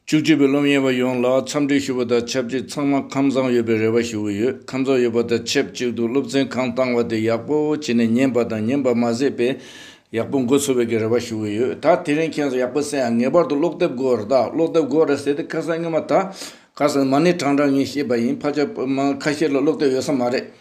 བཅུ་གཅིག་པའི་སློབ་གཉེར་བ་ཡོངས་ལ་འཚམས་འདྲི་ཞུ་བ་དང་ཆབས་ཅིག་ཚང་མ་ཁམས་བཟང་ཡོད་པའི་རེ་བ་ཞུ་གི་ཡོད་ཁམས་བཟང་ཡོད་པ་དང་ཆེབས་གཅིག་ཏུ་སློབ་ཚན་གང་བཏང་བ་དེ་ཡག་པོ་བྱས་ནས་ཉན་པ་དང་ཉན་པར་མ་ཟད་པས་ཡག་པོ་འགོ་ཚུགས་བའི་གི་རེ་བ་ཞུ་གི་ཡོད་ད་དེ་རིང་ཁྱེད་ཚོ་ཡག་པོ་བསད་ཨང་ངེས་པར་དུ་ཀློག་དེབ་དགོས་ར་ད་ཀློག་དེབ་དགོས་ར་ཟེར་ཏེ་ཁ་སང་སྔོན་མ་ད་ཁ་སང་མ་ནི་གྲང་གྲང་ངས་ཤེས་པ་ཡིན་ཕ་ཆ་མ་ཁ་ཤས་ལ་ཀློག་དེབ་ཡོད་ས་མ་རེད་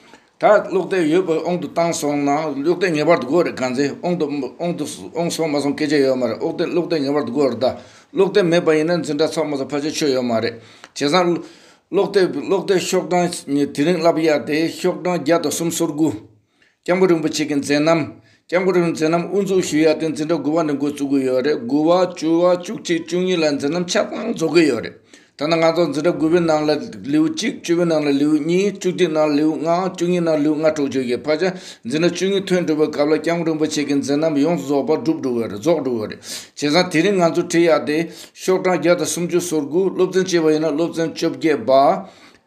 ད་གློག་དེ་ཡོད་པའི་ཨོང་དུ་བཏང་སོང་ན་གློག་དེ་ངེས་པར་དུ་དགོས་རེད་གང་ཚེ་ཨོང་དུ་ཨོང་དུ་ཨོང་སོང་མ་སོང་སྐད་ཆ་ཡོད་མ་རེད་ཨོག་དེ་གློག་དེ་ངེས་པར་དུ་དགོས་རེད་ད་གློག་དེ་མེད་པ་ཡིན་ན་འཛིན་གྲྭ་ཚང་མ་ཚོ་ཕ་ཆོས་ཆོས་ཡོད་མ་རེད། བྱས་ཙང་གློག་དེ་གློག་དེ་ཤོག་གྲངས་དེ་རིང་བསླབ་ཡག་དེ་ཤོག་གྲངས་བརྒྱ་དང་གསུམ་སོར་དགུ། སྐྱབས་མགོན་རིན་པོ་ཆེ་གི་མཛད་རྣམ་སྐྱབས་མགོན་རིན་པོ་མཛད་རྣམ་དབུ་འཛུགས་ཞུ་ཡ་དེ་འཛིན་གྲྭ་དགུ་བ་ནས་འགོ་བཙུགས་ཀྱི་ཡོད་རེད་དགུ་བ་བཅུ་བ་བཅུ་གཅིག་བཅུ་གཉིས་ལ་འཛིན་རྣམ་ཆ་ཚང་རྫོགས་ཀྱི་ཡོད་རེད་ད་ནང་ང་ཚོ་འཛིན་གྲྭ་དགུ་བའི་ནང་ལ་ལེའུ་གཅིག་བཅུ་བའི་ནང་ལ་ལེའུ་གཉིས་བཅུ་གཅིག་ནང་ལ་ལེའུ་ལྔ་བཅུ་གཉིས་ནང་ལེའུ་ལྔ་དྲུག་བརྗོད་ཀྱི་བར་ཆ་འཛིན་གྲྭ་བཅུ་གཉིས་ཐོན་གྲུབ་པའི་སྐབས་ལ་སྐྱབས་མགོན་རིན་པོ་ཆེ་གི་འཛིན་རྣམ་ཡོངས་རྫོགས་པ་འགྲུབ་འགྲོ་གི་རེད་རྫོགས་འགྲོ་གི་རེད་བྱས་ཙང་དེ་རིང་ང་ཚོ་ཁྲིད་ཡག་དེ་ཤོག་གྲངས་བརྒྱ་དང་སུམ་ཅུ་སོར་དགུ་སློབ་ཚན་བཅས་པ་ཡིན་ན་སློབ་ཚན་བཅོ་བརྒྱད་པ་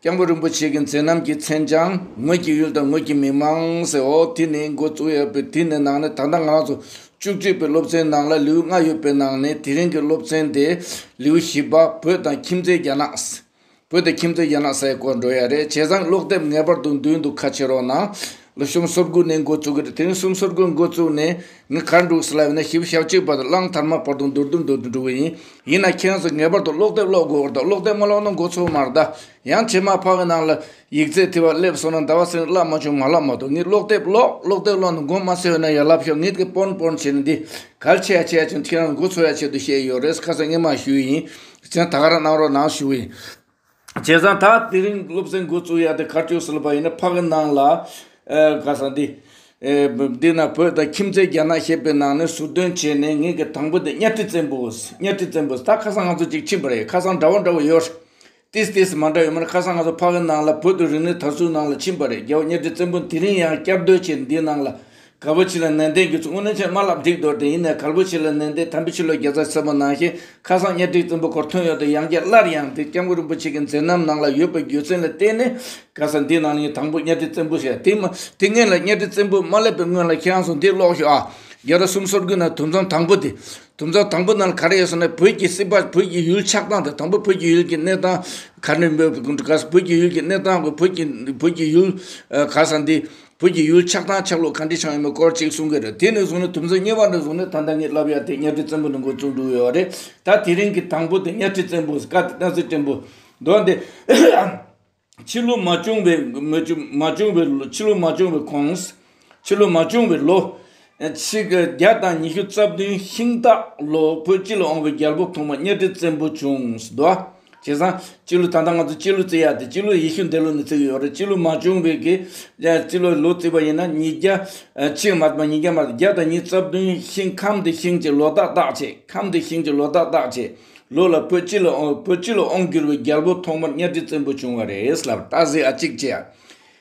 སྐྱབས་མགོན་རིན་པོ་ཆེ་གི་མཚན་རྣམ་གྱིས་མཚན་བྱང་ངོས་ཀྱི་ཡུལ་དང་ངོས་ཀྱི་མི་དམངས་ཟེར་འོ་དེ་ནི་འགོ་བཙུགས་ཡོད་པའི་དུས་ནས་ནང་ནས་ད་ལྟ་ང་རང་ཚོ་བཅུ་གཅིག་པའི་སློབ་ཚན་ནང་ལ་ལེའུ་ལྔ་ཡོད་པའི་ནང་ནས་དེ་རིང་གི་སློབ་ཚན་དེ་ལེའུ་བཞི་པ་བོད་དང་ཁྱིམ་མཚེས་རྒྱ་ནག། བོད་དང་ཁྱིམ་མཚེས་རྒྱ་ནག་སའི་སྐོར་འགྲོ་ཡ་རེད་བྱས་ཙང་ཀློག་དེབ་ངེས་པར་དུ་འདུས་འདུག་ཁ་ཕྱེ་རོགས་གནང། ལོ་གསུམ་སོར་དགུ་ནས་འགོ་བཙུགས་ཏེ་དེང་གསུམ་སོར་དགུར་འགོ་བཙུགས་ནས་ངས་གར་འགྲོ་གི་ཟེར་ལབ་ཡོད་ན་ཞིབ་བཤེར་བྱེད་པ་དང་གླང་དར་མ་བར་དུ་འདོར་དུ་འདོར་དུ་འགྲོ་གི་ཡིན། ཡིན་ན་ཁྱེད་ཚོས་ངེས་པར་དུ་ཀློག་དེབ་ཀློག་དགོས་པར་དང་ཀློག་དེབ་མ་ཀློག་ན་འགོ་ཚུགས་མར་གདའ། ཡང་བྱེ་མ་ཕག་གི་ནང་ལ་ཡིག་རྩལ་དེ་བ་སླེབས་སོང་ན་ཟླ་བ་སེང་བླ་མ་ཆུང་མ་བླ་མ་དང་ངས་ཀློག་དེབ་ཀློག་ཀློག་དེབ་ཀློག་ནས་མགོ་མ་སེར་བས་ན་ཡར་ལབ་ཤོག་ངས་དེ་སྤོར་སྤོར་བྱས་ནས་འདི་གར་ཆས་ཡ་ཆས་ཅིང་ཁྱེད་རང་འགོ་ཚུགས་ཡ་ཆེད་དུ་བཤད་ཡོད་རེད་ཁ་སང་སྔས་མ་ཞུས་ཡིན། ད་ག་རང་གནང་རོགས་གནང་ཞུ་གི་ཡིན། བྱས་ཙང་ད་དེ་རིང་སློབ་ཚན་འགོ་བཙུགས་ཡག་དེ་ཁ་སྤྱོད་ཟེར་པ་ཡིན་ན་ཕག་གི་ནང་ལ། ག་ས་འདི། འདི་ན་བོད་དང་ཁྱིམ་མཚེས་རྒྱ་ནག་ཞེས་པའི་ནང་ནས་ཟུར་འདོན་བྱས་ནས་ངེད་ཀྱི་དང་པོ་དེ་གཉའ་ཁྲི་བཙན་པོ། གཉའ་ཁྲི་བཙན་པོ་ད་ཁ་སང་ང་ཚོ་ཅིག་ཕྱིན་པ་རེད་ཁ་སང་འདྲ་བོ་འདྲ་བོ་ཡོད། ཏིས་ཏིས་མ་འདྲ་ཡོད་མར་ཁ་སང་ང་ཚོ་ཕག་གི་ནང་ལ་བོད་དུ་རིག་གནས་དར་སྲོལ་ནང་ལ་ཕྱིན་པ་རེད་རྒྱལ་བོ་གཉའ་ཁྲི་བཙན་པོ་དེ་རིང་ཡང་བསྐྱར་ཟློས་བྱས་འདིའི་ནང་ལ། གལ་པོ་ཆེ་ལ་ནན་ཏན་དགོས་ཚུལ་དངོས་གནས་ཆེས་དམའ་ལ་ལྡིག་འདོར་དེ་ཡིན་ནའི་གལ་པོ་ཆེ་ལ་ནན་ཏན་དམ་པོས་ཕྱི་ལོ་བརྒྱ་རྩ་གསུམ་པ་ནང་བཞིན་ཁ་སང་གཉའ་ཁྲིའི་བཙུན་པོ་འཁོར་ཐོན་ཡོད་དུ་ཡང་བསྐྱལ་སླར་ཡང་འདི་སྐྱབས་མགོན་རིན་པོ་ཆེ་གི་མཛད་རྣམ་ནང་ལ་ཡོད་པའི་རྒྱུ་མཚན་ལ་བརྟེན་ནས་གལ་སྲིད་འདི་ནང་ནས་དང་པོ་གཉའ་ཁྲི་བཙན་པོ་ཞེས་དེ་མ་དེ་སྔོན་ལ་གཉའ་ཁྲི་བཙན་པོ་མ་སླེབས་པའི་སྔོན་ལ་ཁྱེད་རང་ཚོ་འདི་ཀློག་ཞིག་ཨ། རྒྱལ་རབས་གསུམ་སོར་དགུའི་ནང་དུམ་བཟང་དང་པོ་དེ། དུམ་བཟང་དང་པོ་ནང་ག་རེ་ཡོད་ཟེར་ན་བོད་ཀྱི་སྲིད་པ་བོད་ཀྱི་ཡུལ་ཆགས་སྟངས་དང་དང་པོ་བོད་ཀྱི་ཡུལ་གྱི་གནས་སྟངས་ག་ནས་འབོད་དགོས་གལ་སྲིད་བོད་ཀྱི་ཡུལ་གྱི་གནས་སྟངས་དགོས་བོད་ཀྱི་བོད་ཀྱི་ཡུལ་གལ་སྲིད་འདི་བོད་ཀྱི་ཡུལ་ཆགས་དང་ཆགས་ལུགས་གང་འདྲའི་ཆགས་ཡོད་མེད་སྐོར་གཅིག་གསུང་གི་རེད་དེ་ནས་བཟུང་ནས་དུམ་བཟང་གཉིས་པ་འདི་བཟུང་ནས་ད་ལྟ་ངས་ལབ་ཡ་དེ་གཉའ་ཁྲི་བཙན་པོ་ནས་འགོ་བཙུགས་འདུག་ཡོད་རེད་ད་དེ་རིང་གི་དང་པོ་དེ་གཉའ་ཁྲི་བཙན་པོ་སྐབས་དེ་ཏཱ་ཚེ་བརྟན་པོ་མདོ་འདི་ཕྱི་ལོ་མ་བྱུང་བའི་མ་བྱུང་བའི་ལོ་ཕྱི་ལོ་མ་བྱུང་བའི་གོང་ཕྱི་ལོ་མ་བྱུང་བའི་ལོ་ཕྱི་དགེ་བརྒྱ་དང་ཉི་ཤུ་རྩ་བདུན་ཤིང་སྟག་ལོ་བོད་སྤྱི་ལ་འོང་བའི་རྒྱལ་པོ་ཐོག་མ་གཉའ་ཁྲི་བཙན་པོ་བྱུང། དུ་བ། བྱས་ཙང། སྤྱི་ལོ་ད་ལྟ་ང་ཚོ་སྤྱི་ལོ་བརྩི་ཡ་དེ་སྤྱི་ལོ་ཡེ་ཤུ་འདས་ལོ་ནས་བརྩི་གི་ཡོད་རེད་སྤྱི་ལོ་མ་བྱུང་བའི་གི་སྤྱི་ལོ་ལོ་བརྩི་བ་ཡིན་ན་ཉིས་བརྒྱ་ཕྱི་མ་མ་ཉིས་བརྒྱ་མ་བརྒྱ་དང་ཉིས་རྩ་བདུན་ཤིང་ཁམས་འདི་ཤིང་གྱི་ལོ་ཏག་ཏག་བྱས་ཁམས་འདི་ཤིང་གྱི་ལོ་ཏག་ཏག་བྱས་ལོ་ལ་བོད་སྤྱི་ལ་བོད་སྤྱི་ལ་འོང་གྱུར་བའི་རྒྱལ་པོ་ཐོག་མར་གཉའ་ཁྲི་བཙན་པོ་བྱུང་བ་རེད་ལབ། ཏཱ་ཟི་ཨ་གཅིག་བྱས་ཡ།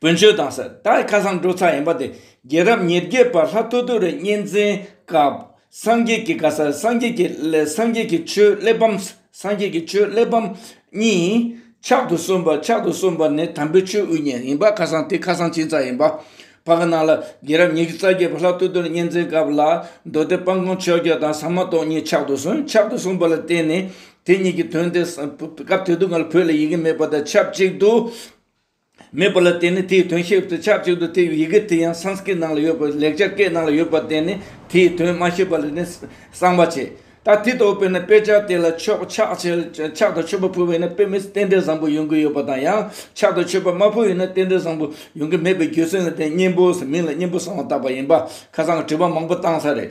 བོན་ཆོས་དང་ས་བདག་གི་ཁ་སང་འགྲོ་ཚར་ཡིན་པ་དེ་རྒྱལ་རབས་ཉེར་བརྒྱད་པར་ལྷ་ཐོ་ཐོ་རི་གཉན་འཛིན་སྐབས་སངས་རྒྱས་ཀྱི་བཀའ་སར་སངས་རྒྱས་ཀྱི་སངས་རྒྱས་ཀྱི་ཆོས་གླེགས་བམ་སངས་རྒྱས་ཀྱི་ཆོས་གླེགས་བམ་གཉིས་ཕྱག་ཏུ་གསོན་པ་ཕྱག་ཏུ་གསོན་པ་ནི་དམ་པའི་ཆོས་དབུ་བརྙེས་ཡིན་པ་ཁ་སང་དེ་ཁ་སང་ཕྱིན་ཚར་ཡིན་པ་བར་ག་ནང་ལ་རྒྱལ་རབས་ཉེར་རྩ་བརྒྱད་པར་ལྷ་ཐོ་ཐོ་རི་གཉན་འཛིན་སྐབས་ལ་མདོ་སྡེ་སྤང་གོང་ཆོས་རྒྱལ་དང་ཟ་མ་ཏོག་གཉིས་ཕྱག་ཏུ་གསོན་ཕྱག་ཏུ་གསོན་པ་ལ་བརྟེན་ནས་དེ་གཉིས་ཀྱི་དོན་དེ་སྐབས་དེ་དུས་ང་ལ་བོད་ལ་ཡི་གེ་མེད་པ་དང་ཆབས་ཅིག་ཏུ། མེད་པ་ལ་དེ་ནི་དེའི་དོན་ཤེས་པར་ཆགས་གཅིག་ཏུ་དེ་ཡི་ཡི་གེ་དེ་ཡང Sanskrit ནང་ལ་ཡོད་པ་ལེགས་སྦྱར་སྐད་ནང་ལ་ཡོད་པ་དེ་ནི་དེའི་དོན་མ་ཤེས་པ་ལ་ནི་གསང་བ་བྱེད། ད་དེ་ལྟ་བུ་བས་ན་དཔེ་ཆ་དེ་ལ་ཆོག་ཆག་ཆེར་ཆག་ཏུ་ཆོད་པ་ཕུལ་བས་ན་དཔེ་མི་རྟེན་འབྲེལ་བཟང་པོ་ཡོང་གི་ཡོད་པ་དང་ཡང་ཆག་ཏུ་ཆོད་པ་མ་ཕུལ་བས་ན་རྟེན་འབྲེལ་བཟང་པོ་ཡོང་གི་མེད་པའི་རྒྱུ་མཚན་ལ་བརྟེན་སྙིང་པོའི་མིང་ལ་སྙིང་པོ་གསང་བ་བཏགས་པ་ཡིན་པ་ཁ་སང་དྲི་བ་མང་པོ་བཏང་ས་རེད་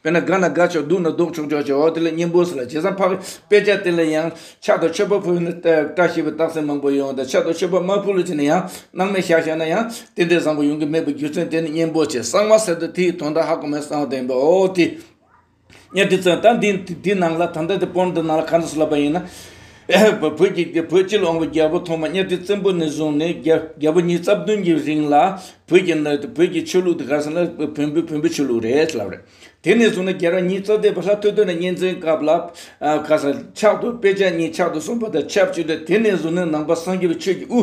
དཔེར་ན་དགའ་ན་དགའ་ཆོག་སྡུག་ན་སྡུག་ཆོག་ཆོག་ཅེས་འོག་དེ་ལས་སྙིང་པོ་ཟེར་ལ་བྱས་ཙང་འཕགས་པའི་དཔེ་ཆ་དེ་ལ་ཡང་ཕྱག་དང་མཆོད་པ་ཕུལ་ན་བཀྲ་ཤིས་པའི་རྟགས་མཚན་མང་པོ་ཡོང་དང་ཕྱག་དང་མཆོད་པ་མ་ཕུལ་ལུགས་བྱས་ན་ཡང་སྣང་མེད་ཤག་ཤག་ན་ཡང་རྟེན་འབྲེལ་བཟང་པོ་ཡོང་གི་མེད་པའི་རྒྱུ་མཚན་དེ་ནི་སྙིང་པོ་ཆེ་གསང་བ་ཟེར་ཏེ་དེ་ཡི་དོན་དག་ཧ་གོ་མའི་གསང་བ་དེ་ཡིན་པས་འོག་དེ་ཉིད་དེ་ཚོས་ད་འདི་ནང་ལ་ད་ལྟ་དེ་པོ་འདི་ནང་ལ་གང་དུ་སུ་ལབ་པ་ཡིན་ན། བོད་ཀྱི་བོད་སྤྱི་ལ་འོང་བའི་རྒྱལ་པོ་ཐོག་མ་གཉའ་ཁྲི་བཙན་པོ་ནས་བཟུང་ནས་རྒྱལ་པོ་ཉིས་རྩ་བདུན་གྱི་རིང་ལ་བོད་ཀྱི་ནང་དུ་བོད་ཀྱི་ཆོས་ལུགས་དེ་ག་ས་ན་བོན་པོའི་བོན་པོའི་ཆོས་ལུགས་རེད་ལབ་རེད། དེ་ནས་བཟུང་ནས་རྒྱལ་རོང་ཉིས་རྩ་བརྒྱད་པ་ལྷ་ཐོད་ཐོད་ནས་གཉན་བཙན་སྐབས་ལ་ག་ས་ཕྱག་ཏུ་དཔེ་ཆ་གཉིས་ཕྱག་ཏུ་གསུངས་པ་དང་ཆབས་ཅིག་ཏུ་དེ་ནས་བཟུང་ནས་ནང་པ་སངས་རྒྱས་པའི་ཆོས་ཀྱི་དབུ།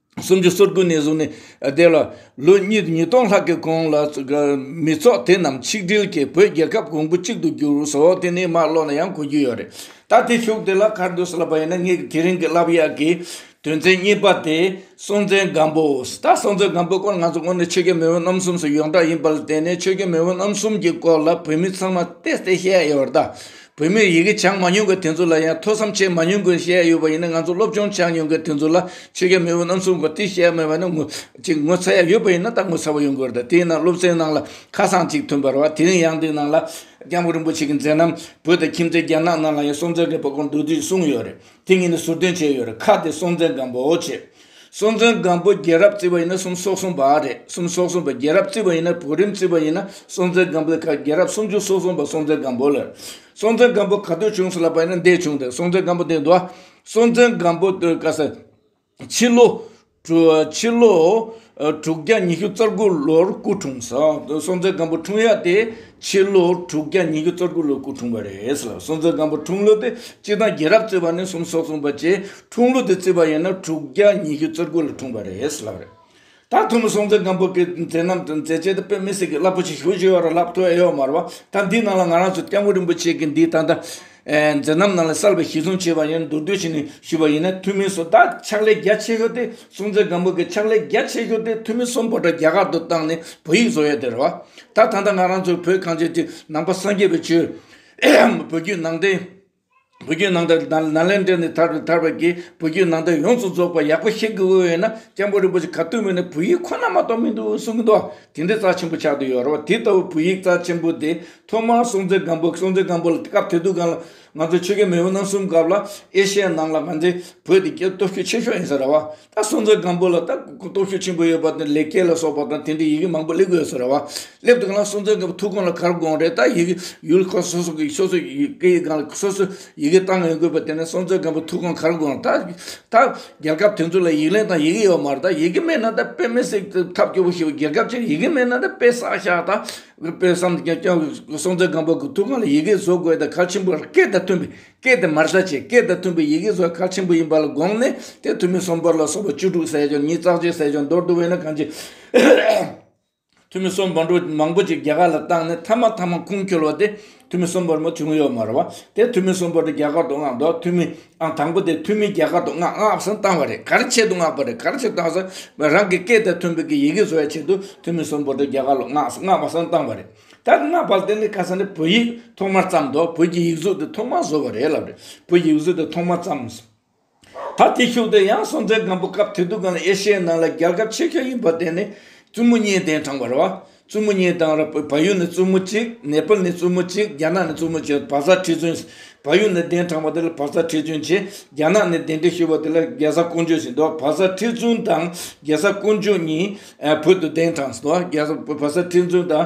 སུམ་ཅུ་སོ་དགུ་ནས་བཟུང་ནས་བརྡལ་བ། ལོ་གཉིས་ཉིས་སྟོང་ལྷག་གི་གོང་ལ་མི་ཚོགས་དེ་རྣམས་ཆིག་སྒྲིལ་གྱིས་བོད་རྒྱལ་ཁབ་གོང་བུ་གཅིག་ཏུ་འགྱུར་སོ་དེ་ནས་མར་ལོག་ན་ཡང་གོ་རྒྱུ་ཡོད་རེད། ད་དེ་ཞུགས་དེ་ལ་ཁར་འདུག་སླ་པ་ཡིན་ན་ངས་དེ་རིང་གི་རླབས་གཡག་གི་དོན་ཚན་གཉིས་པ་དེ་སྲོང་བཙན་སྒམ་པོ། ད་སྲོང་བཙན་སྒམ་པོའི་སྐོར་ང་ཚོ་དངོས་གནས་ཆོས་རྒྱལ་མེས་དབོན་རྣམ་གསུམ་སོགས་ཡོངས་གྲགས་ཡིན་པ་ལ་བརྟེན་ནས་ཆོས་རྒྱལ་མེས་དབོན་རྣམ་གསུམ་གྱི་སྐོར་ལ་བོད་མི་ཚང་མ་བལྟས་བལྟས་བཤད་ཡོད་རེད་ད། བོད་མིར་ཡི་གེ་སྦྱངས་མ་མྱོང་མཁན་དེ་ཚོ་ལ་ཡང་ཐོས་བསམ་བྱས་མ་མྱོང་མཁན་ཞེས་ཡོད་པ་ཡིན་ན་ང་ཚོ་སློབ་སྦྱོང་བྱས་མྱོང་མཁན་དེ་ཚོ་ལ་ཆོས་རྒྱལ་མེས་པོ་རྣམ་གསུམ་གྱི་བསྟི་གནས་མེད་པ་ནི་ཅིག་ངོ་ཚ་ཡག་ཡོད་པ་ཡིན་ན་ད་ངོ་ཚ་བོ་ཡོང་གི་རེད་དེ་ཡིན་ན་སློབ་ཚན་ནང་ལ་ཁ་སང་ཅིག་ཐོན་པར་བ་དེ་རིང་ཡང་འདིའི་ནང་ལ་སྐྱབས་མགོན་རིན་པོ་ཆེ་གི་མཛད་རྣམ་བོད་དང་ཁྱིམ་མཚེས་རྒྱ་ནག་ནང་ལ་ཡང་སྲོང་བཙན་སྒམ་པོ་སྐོར་འདུག་དུས་གསུངས་ཡོད་རེད་དེ་གཉིས་ནི་ཟུར་བསྟོན་བྱས་ཡོད་རེད་ཁ་དེ་སྲོང་བཙན་སྒམ་པོ་ཆེ་སྲོང་བཙན་སྒམ་པོ་རྒྱལ་རབས་བརྩི་བ་ཡིན་ན་གསུམ་སོགས་གསུམ་པ་རེད་གསུམ་སོགས་གསུམ་པ་རྒྱལ་རབས་བརྩི་བ་ཡིན་ན་བོད་རིམ་བརྩི་བ་ཡིན་ན་སྲོང་བཙན་སྒམ་པོའི་ཁར་རྒྱལ་རབས་སུམ་ཅུ་སོགས་གསུམ་པ་སྲོང་བཙན་སྒམ་པོ་ལ་རེད་སྲོང་བཙན་སྒམ་པོ་ག་དུས་བྱུང་སོགས་ལ་བལྟ་ན་འདས་བྱུང་དང་སྲོང་བཙན་སྒམ་པོ་དེ་འདུག་སྲོང་བཙན་སྒམ་པོ་དུས་སྐབས་སུ་ཕྱི་ལོ། ཕྱི་ལོ། དྲུག་བརྒྱ་ཉི་ཤུ་རྩ་དགུ་ལོར་སྐུ་འཁྲུངས་སོ་སྲོང་བཙན་སྒམ་པོ་འཁྲུངས་ཡ་དེ། ཕྱི་ལོ་དྲུག་བརྒྱ་ཉིས་བརྒྱ་རྩ་དགུ་ལོར་སྐུ་འཁྲུངས་པ་རེད་ལ་སོ་མཛད་སྒམ་པོ་འཁྲུངས་ལོ་དེ་སྤྱི་དང་རྒྱལ་རབས་བརྩི་བ་ནི་གསུམ་སོགས་གསུངས་པ་བཅས་འཁྲུངས་ལོ་དེ་བརྩི་བ་ཡིན་ན་དྲུག་བརྒྱ་ཉིས་བརྒྱ་རྩ་དགུ་ལ་འཁྲུངས་པ་རེད་ལབ་རེད། ད་ཐུ་མོ་སོ་མཛད་སྒམ་པོ་གི་མཛད་རྣམ་དང་མཛད་རྗེས་དེ་དཔེ་མི་སྲིད་ཀི་རླབས་པོ་ཆེ་ཞུ་བཞིན་ཡོད་ར་ལབ་ཐུ་ཨེ་ཡོད་མར་བ་ད་འདིའི་ནང་ལ་ང་རང་ཚོ་སྐྱབས་མགོན་རིན་པོ་ཆེ་གི་འདིའི་ད་ལྟ་མཛད་རྣམ་ནང་ལ་གསར་པའི་ཞིག་གསུངས་བྱས་པ་ཡིན་མདོར་བསྡུས་བྱས་ནས་ཞུས་པ་ཡིན་ན་ཐུ་མི་སོ་ད་ཕྱག་ལས་རྒྱ་ཆེ་ཤོས་དེ་སྲུང་བརྩི་སྒམ་པོ་གི་ཕྱག་ལས་རྒྱ་ཆེ་ཤོས་དེ་འཐུས་མི་གསུམ་བོད་དྲ་རྒྱ་གར་དུ་བཏང་ནས་བོད་ཡིག་བཟོ་ཡས་དེ་རེད་བ། ད་ད་ལྟ་ང་རང་ཚོའི་བོད་གངས་ཅན་གྱི་ནང་པ་སངས་རྒྱས་པའི་ཆོས་བོད་བརྒྱུད་ནང་བསྟན། བོད་བརྒྱུད་ནང་བསྟན་ནཱ་ལེནྡྲ་ནས་དར་བའི་དར་བ་དགེ་བོད་བརྒྱུད་ནང་བསྟན་ཡོངས་སུ་རྫོགས་པ་ཡག་པོ་ཤེས་དགོས་འོས་ཡོད་ན་སྐྱབས་མགོན་རིན་པོ་ཆེ་ག་དུས་མིན་ནས་བོད་ཡིག་ཁོ་ན་མ་གཏོགས་མི་འདུག་གསུང་གི་འདུག་དེ་འདྲའི་རྩ་ཆེན་པོ་ཆགས་དུ་ཡོད་རེད་བ་དེ་ལྟ་བུའི་བོད་ཡིག་རྩ་ཆེན་པོ་དེ་ཐོག་མར་སྲུང་བརྩི་སྒམ་པོ་སྲུང་བརྩི་སྒམ་པོ་ལ་སྐབས་དེ་དུས་གང་ལ། ང་ཚོ་ཆོལ་ཁའི་མི་བུ་རྣམས་གསུམ་སྐབས་ལ་ཨེ་ཤེ་ཡ་ནང་ལ་ང་ཚོའི་བོད་དེ་གའི་སྟོབས་ཤུགས་ཆེ་ཤོས་ཡིན་ཟེར་ར་བ། ད་སྲོང་བཙན་སྒམ་པོ་ལ་ད་སྟོབས་ཤུགས་ཆེན་པོ་ཡོད་པ་དེ་ལས་སྐལ་ལ་སོགས་པ་དང་དེ་འདྲའི་ཡི་གེ་མང་པོ་སླེབས་གི་ཡོད་ཟེར་ར་བ། སླེབས་འདུག་ག་ལ་སྲོང་བཙན་སྒམ་པོ་ཐུགས་དགོངས་ལ་གར་དགོངས་རེད་ད་ཡི་གེ་ཡུལ་ཁག་སོ་སོ་གི་སོ་སོ་ཡི་གེ་ཡི་སྒང་ལ་སོ་སོ་ཡི་གེ་བཏང་ཡོང་དགོས་པ་དེ་ནི་སྲོང་བཙན་སྒམ་པོ་ཐུགས་དགོངས་གར་དགོངས་ད་ད་རྒྱལ་ཁབ་དེ་ཚོ་ལ་ཡིག་ལན་དང་ཡི་གེ་ཡོད་མ་རེད་ད་ཡི་གེ་མེད་ན་ད་དཔེ་མི་སྲིད་ཐབས་སྐྱོ་བོ་ཞིག་ཡིན་རྒྱལ་ཁབ་ཅིག་ཡི་གེ་མེད་ན་ད་དཔེ་བསགས་ཤག་ད་ལུས་པའི་བསམ་གཏན་སྐྱོང་གི་གསུང་ཚིག་སྒམ་པོ་གི་ཐུགས་ཀ་ནས་ཡི་གེ་བཟོ་དགོས་དང་ཁ་ཆེན་པོ་ལ་སྐད་དང་མཐུན་པའི་སྐད་དེ་མར་ཟ་བྱེད་སྐད་དང་མཐུན་པའི་ཡི་གེ་བཟོ་བ་ཁ་ཆེན་པོ་ཡིན་པ་ལ་དགོངས་ནས་དེ་ཐུ་མི་སུམ་པ་ལ་སོགས་པ་བཅུ་དྲུག་ཟས་སྦྱོར་ཉིད་རྩག་བྱེད་ཟས་སྦྱོར་མདོར་བསྡུ་བས་ན་གང་ཅི། ཐུ་མི་སུམ་བ་འགྲོ་མང་པོ་ཅིག་རྒྱ་གར་ལ་བཏང་ནས་ཐ་མ་ཐ་མ་ཁུངས་འཁྱོལ་བ་སྟེ། འཐུས་མི་གསུམ་པར་མོ་ཐུ་མི་ཡོ་མར་བ། དེ་འཐུས་མི་གསུམ་པོ་དེ་རྒྱ་གར་དུ་མངགས་འདུག་འཐུས་མི་ཨང་དང་པོ་དེ་འཐུས་མི་རྒྱ་གར་དུ་མངགས་མངགས་སུ་བཏང་བ་རེད་ག་རེ་ཆེད་དུ་མངགས་པ་རེད་ག་རེ་ཆེད་དུ་བཏང་ཟེར་རང་གི་སྐད་དེ་མཐོན་པོ་གི་ཡི་གེ་བཟོ་བའི་ཆེད་དུ་འཐུས་མི་གསུམ་པོ་དེ་རྒྱ་གར་ལ་མངགས་སུ་མངགས་པ་སོང་བཏང་བ་རེད་ད་མངགས་པ་དེ་ནི་ཁ་སང་ནས་བོད་ཡིག་ཐོག་མར་བརྩམས་འདུག་བོད་ཀྱི་ཡིག་གཟུགས་དེ་ཐོག་མར་བཟོ་བ་རེད་ལབ་རེད་བོད་ཡིག་གཟུགས་དེ་ཐོག་མར་བརྩམས་ད་དེ་ཤུགས་ལྡན་ཡང་སྲོང་བཙན་སྒམ་པོ་སྐབས་དེ་དུས་གང་ལ་ཨེ་ཤེ་ཡའི་ནང་ལ་རྒྱལ་ཁབ་ཆེ་ཤོས་ཡིན་པ་དེ་ནི་བཙུན་མོ་གཉིས་གདན་དྲངས་པར་བ། བཙུན་མོ་གཉིས་དང་ར་བ་ཡུལ་ནས་བཙུན་མོ་གཅིག་ནེ་པལ་ནས་བཙུན་མོ་གཅིག་རྒྱ་ནག་ནས་བཙུན་མོ་གཅིག་བ་ས་ཁྲི་བཙུན། བ་ཡུལ་ནས་གདན་དྲངས་པ་དེ་ལ་བ་ས་ཁྲི་བཙུན་ཅེས་རྒྱ་ནག་ནས་གདན་འདྲེན་ཞུས་པ་དེ་ལ་རྒྱལ་ས་ཀོང་ཇོ་ཞེས་འདོགས་བ་ས་ཁྲི་བཙུན་དང་རྒྱལ་ས་ཀོང་ཇོ་གཉིས་བོད་དུ་གདན་དྲངས་སོ། རྒྱལ་ས་བ་ས་ཁྲི་བཙུན་དང་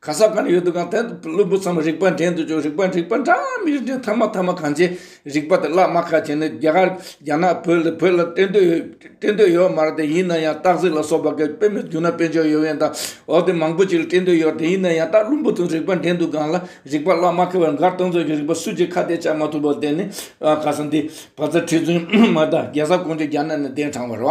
ག་ས་གང་ཡོད་དུ་གང་ཐད་དུ་བླུན་པོ་ཚང་མ་རིག་པ་འདྲེན་དུ་བཅུག་རིག་པ་འགྲིག་པ་འདྲ་མི་རིག་འདྲེན་ཐ་མ་ཐ་མ་གང་བྱེད་རིག་པ་དེ་བརླག་མ་ཁ་བྱེད་ནི་རྒྱ་གར་རྒྱ་ནག་བོད་ལ་བོད་ལ་བསྟན་དོད་བསྟན་དོད་ཡོད་མ་རེད་དེ་ཡིན་ན་ཡང་སྟག་གཟིག་ལ་སོགས་པ་གི་དཔེ་མི་བརྒྱུད་ན་དཔེ་འཇོག་ཡོད་ཡོད་འདའ་འོ་དེ་མང་པོ་ཅིག་ལ་བསྟན་དོད་ཡོད་དེ་ཡིན་ན་ཡང་སྟག་བླུན་པོ་ཚོ་རིག་པ་འདྲེན་དུ་གང་ལ་རིག་པ་བརླག་མ་ཁ་བར་མགར་སྟོང་ཚོ་གི་རིག་པ་སུས་ཀྱིས་ཁ་གཏད་བཅག་མ་ཐུབ་པ་དེ་ནི་ག་ས་འདི་བ་ཚ་ཁྲི་བཙུན་མ་དང་རྒྱལ་ས་ཀོང་ཇོ་རྒྱ་ནག་ནས་གདན་དྲངས་བར་བ་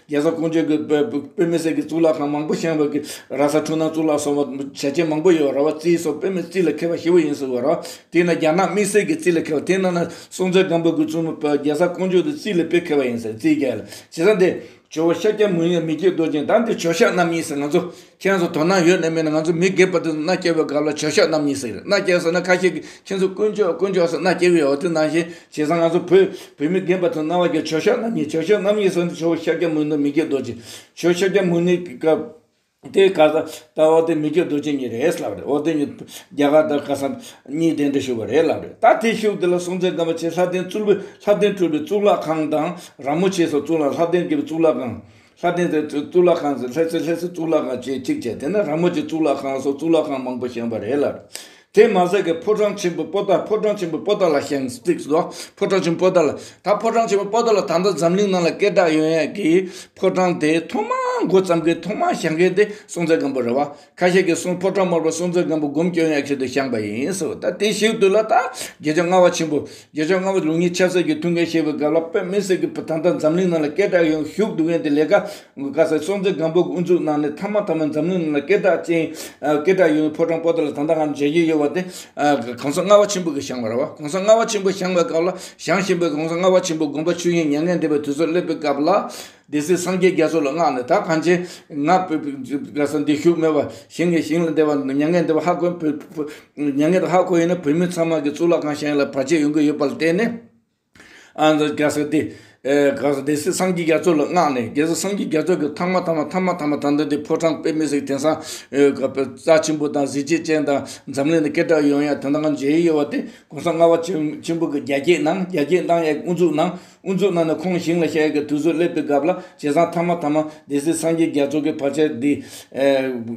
རྒྱལ་ས་ཀོང་ཇོས་ཀྱི་བོད་མི་སེར་གྱི་གཙུག་ལག་ཁང་མང་པོ་བཞེངས་པ་གིས་ར་ས་འཁྲུངས་ན་གཙུག་ལག་སོགས་པ་བྱས་རྗེས་མང་པོ་ཡོད་པ་ར་བ་རྩིས་སོགས་བོད་མི་རྩིས་ལ་མཁས་པ་བཞི་བོ་ཡིན་ཟེར་བ་ར་བ་དེས་ན་རྒྱ་ནག་དམིགས་བསལ་གྱི་རྩིས་ལ་མཁས་པ་དེ་རྣམས་ན་སྲོང་བཙན་སྒམ་པོ་ཀུན་བཙུན་མོ་བོད་རྒྱལ་ས་ཀོང་ཇོས་ཀྱི་རྩིས་ལ་དཔེ་མཁས་པ་ཡིན་ཟེར་རྩིས་རྒྱལ་ལ་བྱེད་ས་འདི། ཇོ་བོ་ཤཱཀྱ་མུ་ནེ་མི་བསྐྱོད་རྡོ་རྗེ་མདའ་འདི་ཇོ་ཤཱཀ་རྣམ་གཉིས་སེར་ང་ཚོ་ཁྱེད་ཚོ་དོ་སྣང་ཡོད་ནི་མིན་ང་ཚོ་མི་སྒེར་པ་དེ་ཚོ་མནའ་སྐྱེལ་བའི་སྐབས་ལ་བྱོས་ཤོག་རྣམ་གཉིས་ཟེར་མནའ་སྐྱེལ་ཟེར་ན་ཁ་ཤས་ཀྱིས་ཁྱེད་ཚོ་དཀོན་མཆོག་དཀོན་མཆོག་ཟེར་མནའ་སྐྱེལ་བའི་འོ་དེ་ནང་བཞིན་བྱས་ཙང་ང་ཚོ་བོད་བོད་མི་སྒེར་པ་ཚོ་མནའ་བ་སྐྱེལ་བྱོས་ཤོག་རྣམ་གཉིས་བྱོས་ཤོག་རྣམ་གཉིས་ཟེར་ནི་བྱོས་ཤ་སྐྱ་མུན་ནོ་མི་སྐྱེལ་རྡོ་རྗེ་བྱོས་ཤ་སྐྱ་མུན་ནི་སྐབས་དེའི་ཁ་ས་ད་འོ་དེ་མི་སྐྱེལ་རྡོ་རྗེ་གཉིས་རེད་ལབ་རེད་འོ་དེ་གཉིས་རྒྱ་གར་དར་ཁ་ས་གཉིས་དེ་འདྲ་བཞུགས་པ་རེད་ལབ་རེད་ད་དེ་བཞུགས་དེ་ལ་སྲུང་བརྩི་དགའ་བ་བྱེད་ལྷ་ལྡན་གཙུག་ལྷ་ལྡན་སྤྲུལ་པའི་གཙུག་ལག་ཁང་དང་ར་མོ་ཆེ་སོགས་གཙུག་ལག་ལྷ་ལྡན་དགེ་བའི་གཙུག་ལག་ཁང། ལྷ་ལྡན་ཚོའི་གཙུག་ལག་ཁང་ཟེར་ལྷས་ཚོའི་ལྷས་སུ་གཙུག་ལག་ཁང་བཅས་གཅིག་བྱས་དེ་ན་ར་མོ་ཆེ་གཙུག་ལག་ཁང་སོགས་གཙུག་ལག་ཁང་མང་པོ་བཞེངས་པ་རེད་ལ། དེས་མ་ཟད་ཀྱི་ཕོ་བྲང་ཆེན་པོའི་པོ་ཏཱ་ཕོ་བྲང་ཆེན་པོའི་པོ་ཏཱ་ལ་བཞེངས་སྟེ་སོ། ཕོ་བྲང་ཆེན་པོའི་པོ་ཏཱ་ལ་ད་ཕོ་བྲང་ཆེན་པོའི་པོ་ཏཱ་ལ་ད་ལྟ་འཛམ་གླིང་ནང་ལ་སྐད་གྲགས་ཡོད་ཡ་གི་ཕོ་བྲང་དེ་ཐོག་མར་འགོ་བརྩམས་མཁན་ཐོག་མར་བཞེངས་མཁན་དེ་སྲོང་བཙན་སྒམ་པོ་རེད་བ། ཁ་ཤས་ཀྱིས་གསུང་ཕོ་བྲང་དམར་པོ་སྲོང་བཙན་སྒམ་པོ་སྒོམ་སྐྱོན་ཡག་ཤོས་དུ་བཞེངས་པ་ཡིན་ཟེར་བ་ལྟར་དེ་ཞིག་ཏུ་ལ་དྭགས་རྒྱལ་མཆོག་ལྔ་བ་ཆེན་པོ་རྒྱལ་མཆོག་ལྔ་བ་ལུགས་གཉིས་ཆབ་སྲིད་ཀྱི་ཐུགས་འགན་བཞེས་པའི་སྐབས་ལ་བོད་མི་སེར་གྱི་བུ་ད་ལྟ་འཛམ་གླིང་ནང་ལ་སྐད་གྲགས་ཡོང་བཞུགས་འདུག་མཁན་དེ་ལས་ཀ་དགོས་དཀའ་སེ་སྲོང་བཙན་སྒམ་པོ་དབུ་འཛུགས་གནང་ནས་མཐའ་མ་ཐ་མ་འཛམ་གླིང་ནང་ལ་སྐད་གྲགས་ཅན་སྐད་གྲགས་ཡོང་བའི་ཕོ་བྲང་པོ་ཏི་ལ་ད་ལྟ་ང་མཇལ་རྒྱུ་ཡོད་པ་དེ་གོང་ས་ལྔ་བ་ཆེན་པོ་གིས་བཞེངས་པ་རེད་བ་གོང་ས་ལྔ་བ་ཆེན་པོ་བཞེངས་པའི་སྐབས་ལ་བཞེངས་བཞིན་པའི་གོང་ས་ལྔ་བ་ཆེན་པོ་དགོངས་པ་ཆོས་དབྱིངས་མྱ་ངན་འདས་པའི་དུས་སུ་སླེབས་པའི་སྐབས་ལ། སྡེ་སྲིད་སངས་རྒྱས་རྒྱ་མཚོ་ལ་བསྔགས་ནས་ད་གང་ཆེ། ངག་བོད་པའི་རྒྱལ་ས་འདི་བཞུགས་སྨྲས་པ། ཞིང་གི་ཞིང་ལ་འདེབས་པ་མྱ་ངན་འདེབས་པ་ཧ་གོ་མྱ་ངན་འདེབས་ཧ་གོ་ཡིན་ན་བོད་མི་ཚང་མ་གི་གཙུག་ལག་ཁང་བཞེངས་ལ་བར་ཆད་ཡོང་གི་ཡོད་པ་ལ་བརྟེན་ནས། ཨ་མདོ་རྒྱལ་ས་འདི། སྡེ་སྲིད་སངས་རྒྱས་རྒྱ་མཚོ་ལ་བསྔགས་ནས་རྒྱལ་ས་སངས་རྒྱས་རྒྱ་མཚོ་གི་ཐང་མ་ཐང་མ་ཐང་མ་ཐང་མ་ཐང་ཐང་དེ་ཕོ་བྲང་དཔེ་མི་སྲིད་དེང་སང། རྩ་ཆེན་པོ་དང་གཟི་བརྗིད་ཅན་དང་འཛམ་གླིང་ནས་སྐད་གྲགས་ཡོང་ཡ་དེ་འདང་མཇལ་ཡི་ཡོད་པ་དེ ྋགོང་ས་ལྔ་བ་ཆེན་པོ་གི་རྒྱ་སྐྱེད་ནང་རྒྱ་སྐྱེད་མདང་ཡའི་དབུ་འཛུགས་ནང། དབུ་འཛུགས་གནང་ནས་ཁོང་ཞིང་ལ་ཤར་ཡུལ་གྱི་དུས་སུ་སླེབས་པའི་སྐབས་ལ་བྱས་ཙང་ཐ་མ་ཐ་མ་སྡེ་སྲིད་སངས་རྒྱས་རྒྱ་མཚོ་གི་ཕར་ཆེར་འདི།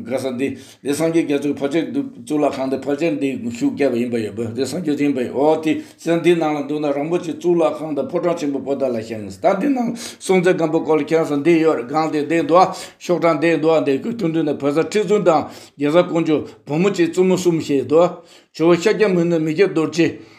ག་ས་འདི། དེ་སངས་རྒྱས་རྒྱ་མཚོ་གི་ཕར་ཆེར་འདུག་གཙུག་ལག་ཁང་དེ་ཕར་ཆེར་འདི་བཞུགས་བསྐྱལ་བ་ཡིན་པ་ཡོད་པས་དེ་སངས་རྒྱས་ཆེན་པོ་ཡིན་འོ་དེ་ས་འདི་ནང་ལ་འདུག་ན་རིན་པོ་ཆེ་གཙུག་ལག་ཁང་དང་ཕོ་བྲང་ཆེན་པོ་པོ་ཏཱ་ལ་ཤང་གི་ས་འདི་ནང་སྲོང་བཙན་སྒམ་པོ་སྐོར་ལ་ཁྱེར་ས་འདི་ཡོད་རེད་སྒང་དེ་འདི་འདུག་ཨ་ཤོག་བྲང་འདི་འདུག་ཨ་འདི་ཁོས་ཐུགས་འདུན་དང་བོད་ས་ཁྲི་བཙུན་དང་རྒྱལ་ས་ཀོང་ཇོ་བུ་མོ་བཅས་བཙུན་མོ་གསུམ་བཞེས་ཡོད་འདུག་ཨ་ཇོ་བོ་ཤཱཀྱ་མུ་ནེ་མི་སྐྱ་རྡོ་རྗེ།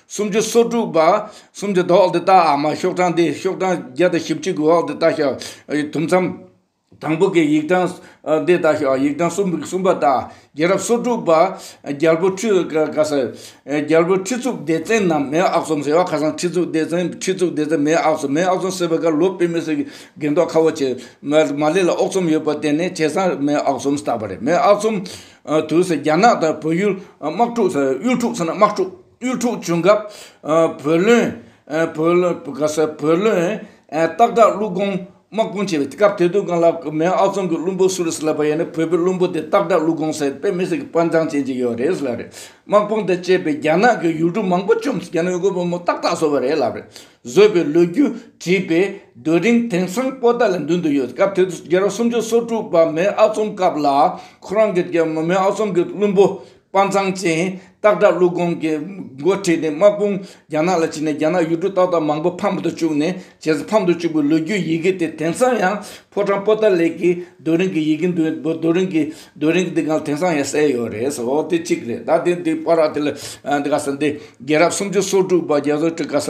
སུམ་ཅུ་སོ་དྲུག་པ། སུམ་ཅུ་དོག་འདི་བཏགས་ཨ་མ་ཤོག་གྲངས་འདི་ཤོག་གྲངས་བརྒྱ་དང་བཞི་བཅུ་དགུ་འོག་འདི་བཏགས་ཤོག་དུམ་མཚམས་དང་པོ་གི་ཡིག་གྲངས་འདི་བཏགས་ཤོག་ཡིག་གྲངས་གསུམ་གསུམ་པ་བཏགས་རྒྱལ་རབས་སོ་དྲུག་པ། རྒྱལ་པོ་ཁྲི་ག་ཟེར། རྒྱལ་པོའི་ཁྲི་གཙུག་སྡེ་བཙན་ནམ་མེ་ཨག་ཚོམ་ཟེར་བ་ཁ་སང་ཁྲི་གཙུག་སྡེ་བཙན་ཁྲི་གཙུག་སྡེ་བཙན་མེ་ཨག་ཚོམ་མེ་ཨག་ཚོམ་ཟེར་བའི་ཁར་ལོ་པེ་མི་སེར་གྱི་རྒན་ཐོག་ཁ་བོ་ཆེ་མ་ལེ་ལ་ཨོག་ཚོམ་ཡོད་པར་བརྟེན་ནས་བྱས་ཙང་མེ་ཨག་ཚོམ་བཏགས་པ་རེད་མེ་ཨག་ཚོམ་དུས་སུ་རྒྱ་ནག་དང་བོད་ཡུལ་དམག་འཁྲུག་དམག་འཁྲུག་ཚུན་དམག་འཁྲུག། དབུལ་ཕྲུག་བྱུང་སྐབས་བུ་ལོན། སྟག་བྲག་ཀླུ་གོང་དམག་དཔུང་བྱས་པའི་སྐབས་དེ་དུས་ཀང་ལ་མེ་ཨག་ཚོམ་གི་བླུན་པོ་སུ་རེད་ལབ་པ་ཡིན་ན་བོད་པའི་བླུན་པོ་དེ་སྟག་བྲག་ཀླུ་གོང་ཟེར་པའི་མི་ཟེར་གི་དཔའ་མཛངས་ཅན་ཅིག་ཡོད་རེད་ལབ་རེད་དམག་དཔུང་དེ་བཅས་པའི་རྒྱ་ནག་གི་ཡུལ་གྲུ་མང་པོ་བཅོམ་རྒྱ་ནག་ཡུལ་སྐོར་བ་མོ་ཏག་ཏག་བཟོ་བ་རེད་ལབ་རེད་བཟོས་པའི་ལོ་རྒྱུས་བྲིས་པའི་རྡོ་རིང་དེང་སང་པོ་ཏཱ་ལའི་མདུན་དུ་ཡོད་སྐབས་དེ་དུས་རྒྱལ་རབས་སུམ་ཅུ་སོ་དྲུག་པ་མེ་ཨག་ཚོམ་སྐབས་ལ་ཁོ་རང་གི་མེ་ཨག་ཚོམ་གི་བླུན་པོ་དཔའ་མཛངས་ཅན་སྟག་སྒྲ་ཀླུ་སྒོམ་གྱི་མགོ་ཁྲིད་དེ་དམག་དཔུང་རྒྱ་ནག་ལ་ཕྱིན་ནས་རྒྱ་ནག་ཡུལ་གྲུ་ཏག་ཏག་མང་པོ་ཕམ་དུ་བཅུག་ནས་རྗེས་སུ་ཕམ་དུ་བཅུག་པའི་ལོ་རྒྱུས་ཡི་གེ་དེ་དེང་སང་ཡང་ཕོ་བྲང་པོ་ཏཱ་ལེགས་ཀྱི་རྡོ་རིང་གི་ཡི་གེ་འདུལ་བའི་རྡོ་རིང་གི་རྡོ་རིང་གི་སྟེང་ན་དེང་སང་ཡང་གསལ་ཡོད་རེད་སོ་དེ་གཅིག་རེད་ད་དེ་དེ་པར་ར་དེ་ལ་དེ་ག་ས་དེ་རྒྱལ་རབས་སུམ་ཅུ་སོ་དྲུག་པ་རྒྱལ་བོ་ཀྲི་ཀ་ས་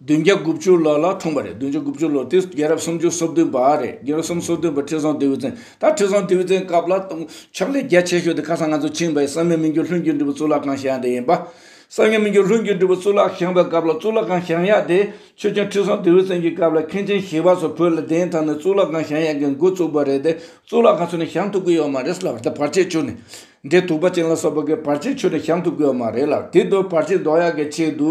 བདུན་བརྒྱ་དགུ་བཅུ་ལོ་ལ་འཁྲུངས་པ་རེད་བདུན་བརྒྱ་དགུ་བཅུ་ལོ་དེ་རྒྱལ་རབས་སུམ་ཅུ་སོ་བདུན་པ་རེད་རྒྱལ་རབས་སུམ་སོ་བདུན་པ་ཁྲི་བཟང་ལྡེའུ་བཙན་ད་ཁྲི་བཟང་ལྡེའུ་བཙན་སྐབས་ལ་ཕྱག་ལས་རྒྱ་ཆེ་ཤོས་དེ་ཁ་སང་ང་ཚོ་ཕྱིན་པའི་གསང་ཉམས་མི་འགྱུར་ལྷུན་གྱིས་འགྲུབ་པའི་གཙུག་ལག་ཁང་བཞེངས་པ་དེ་ཡིན་པ། གསང་ཉམས་མི་འགྱུར་ལྷུན་གྱིས་འགྲུབ་པའི་གཙུག་ལག་བཞེངས་པའི་སྐབས་ལ་གཙུག་ལག་ཁང་བཞེངས་ཡག་དེ་ཆོས་རྒྱལ་ཁྲི་བཟང་ལྡེའུ་བཙན་གྱི་སྐབས་ལ་མཁན་ཆེན་ཞི་བ་སོགས་བོད་ལ་གདན་དྲངས་ནས་གཙུག་ལག་ཁང་བཞེངས་ཡག་གི་མགོ་བཙུགས་པ་རེད་དེ་གཙུག་ལག་ཁང་ཆུ་ནས་བཞེངས་ཐུབ་གི་ཡོད་མ་རེད་ལགས་འདི་བར་ཆད་ཆུ་ནས་འདྲེ་དུག་པ་ཅན་ལ་སོགས་པ་གི་བར་ཆད་ཆུ་ནས་བཞེངས་ཐུབ་གི་ཡོད་མ་རེད་ལགས་དེ་དུས་བར་ཆད་ཟློག་ཡག་གི་ཆེད་དུ་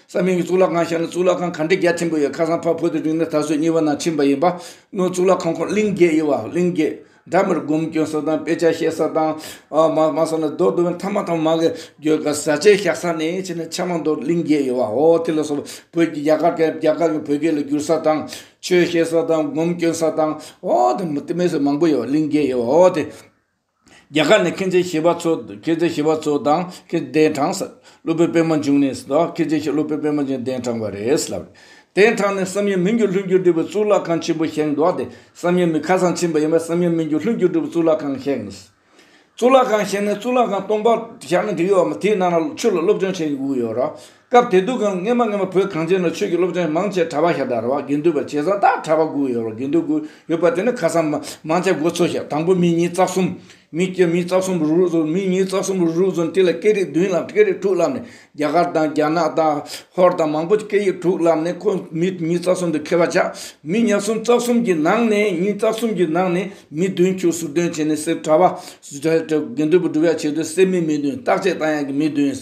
ས་མིང་གི་གཙུག་ལག་ཁང་ཞེས་ན་གཙུག་ལག་ཁང་གང་དྲི་རྒྱ་ཆེན་པོ་ཡོད་ཁ་སང་འཕགས་བོད་དུ་རིང་ནས་ད་གཟོད་གཉིས་པ་ནང་ཕྱིན་པ་ཡིན་པ་སྔོན་གཙུག་ལག་ཁང་ཁོངས་གླིང་བརྒྱད་དབྱེ་བ་གླིང་བརྒྱད། སྦྲ་མིར་སྒོམ་སྐྱོན་ས་དང་དཔེ་ཆ་བཤད་ས་དང། མ་ས་ན་རྡོ་དུ་བས་མཐའ་མ་ཐང་མ་གི་རྒྱུ་སྐར་བཟའ་བཅའི་བཞག་ས་ནས་ཕྱིན་ན་ཕྱག་མ་མདོར་གླིང་བརྒྱད་དབྱེ་བའོ་དེ་ལ་སོགས་པ་བོད་ཀྱི་རྒྱ་གར་རྒྱ་གར་གྱི་བོད་སྐད་ལ་བསྒྱུར་ས་དང། ཆོས་བཤད་ས་དང་སྒོམ་སྐྱོན་ས་དང། ཨོ་དེ་མི་དེ་མི་སོགས་མང་པོ་ཡོད་གླིང་བརྒྱད་དབྱེ་བའོ་དེ། རྒྱ་གར་ནས་མཁྱེན་བརྩེ་ཞེས་པ་ཚོ་མཁྱེན་བརྩེ་ཞེས་པ་ཚོ་དང་མཁྱེན་བརྩེ་གདན་དྲངས། སློབ་དཔོན་པད་མ་འབྱུང་གནས་སུ་དང་མཁྱེན་བརྩེ་ཞེས་སློབ་དཔོན་པད་མ་འབྱུང་གནས་གདན་དྲངས་པ་རེད་ལབ། གདན་དྲངས་ནས་བསམ་ཡས་མི་འགྱུར་ལྷུན་གྱིས་གྲུབ་པའི་གཙུག་ལག་ཁང་ཆེན་པོ་བཞེངས་འདུག་སྟེ་བསམ་ཡས་མི་ཁ་སང་ཕྱིན་པ་ཡིན་པས་བསམ་ཡས་མི་འགྱུར་ལྷུན་གྱིས་གྲུབ་པའི་གཙུག་ལག་ཁང་བཞེངས། གཙུག་ལག་ཁང་བཞེངས་ནས་གཙུག་ལག་ཁང་སྟོང་པར་བཞག་ནས་འདི་ཡོད་བ་མ་དེའི་ནང་ན་ཆུ་ལ་སློབ་སྦྱོང་བྱེད་ཡུལ་ཡོད་ར། སྐབས་དེ་དུས་ཀྱང་སྔན་མ་སྔན་མ་བོད་གངས་ཅན་ན་ཆོས་ཀྱི་སློབ་ཆེན་མང་ཆེ་བྲ་བ་ཞག་དག་ར་བ་དགེ་འདུན་པ་བྱེ་ས་དག་བྲ་བ་དགུ་ཡོད་ར་དགེ་འདུན་དགུ་ཡོད་པ་དེ་ནི་ཁ་སང་མང་ཆེ་སྒོ་ཚོ་ཞག་དང་པོ་མི་གཉིས་རྩ་གསུམ། མི་བསྐྱེད་མི་རྩ་གསུམ་རུག་རུག་ཚོ་མི་གཉིས་རྩ་གསུམ་རུག་རུག་ཚོ་ནི་དེ་ལ་སྐད་རིགས་བདུན་བསླབས་སྐད་རིགས་དྲུག་བསླབས་ནས་རྒྱ་གར་དང་རྒྱ་ནག་དང་ཧོར་དང་མང་པོ་ཆེ་སྐད་ཡིག་དྲུག་བསླབས་ནས་ཁོ་མི་གཉིས་རྩ་གསུམ་དུ་ཁེལ་བ་ཆགས་མི་ཉག་གསུམ་རྩ་གསུམ་གྱི་ནང་ནས་གཉིས་རྩ་གསུམ་གྱི་ནང་ནས་མི་བདུན་ཆུ་ཟུར་དོན་བྱས་ནས་སེར་བྲ་བ། དགེ་འདུན་པ་བྲུ་བ་བྱས་དུས་སེར་མི་མི་བདུན་རྟག་ཆད་བཏང་ཡག་གི་མི་བདུན།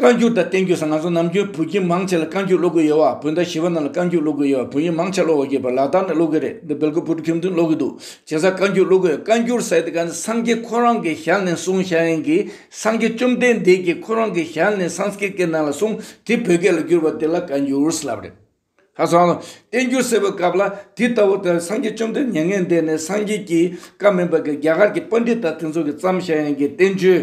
བཀའ་འགྱུར་དང་བསྟན་འགྱུར་སོགས་ང་ཚོ་ནམ་རྒྱུན་བོད་ཁྱིམ་མང་ཆེ་ལ་བཀའ་འགྱུར་ཀློག་གི་ཡོད་བ་བོད་ཟླ་བཞི་བ་རྣམས་ལ་བཀའ་འགྱུར་ཀློག་གི་ཡོད་བ་བོད་ཡིག་མང་ཆེ་ཀློག་གི་པ་ལག་བསྟར་ནས་ཀློག་གི་རེད་འདི་བལ་གོས་བུ་ཕྲུག་ཁྱིམ་བདུན་ཀློག་གི་འདུག་བྱས་ཙང་བཀའ་འགྱུར་ཀློག་གི་ཡོད་བཀའ་འགྱུར་ཟེར་ཏེ་ག་ནི་སངས་རྒྱས་ཁོ་རང་གི་ཞལ་ནས་གསུང་བྱ་ཡིན་གྱི་སངས་རྒྱས་བཅོམ་ལྡན་འདས་ཀྱི་ཁོ་རང་གི་ཞལ་ནས་སངས་རྒྱས་ཀྱི་ནང་ལ་གསུང་དེ་བོད་སྐད་ལ་བསྒྱུར་བ་དེ་ལ་བཀའ་འགྱུར་ལབ་རེད། ཁ་སང། བསྟན་འགྱུར་གསལ་བའི་སྐབས་ལ་དེ་ལྟ་བུ་དེར་སངས་རྒྱས་བཅོམ་ལྡན་མྱ་ངན་འདས་ནས་སངས་རྒྱས་ཀྱི་བཀའ་མིན་པར་རྒྱ་གར་གྱི་པཱ་འདྲི་ད་དེ་ཚོ་གི་བརྩམས་བྱ་ཡན་གྱི་བསྟན་བཅོས་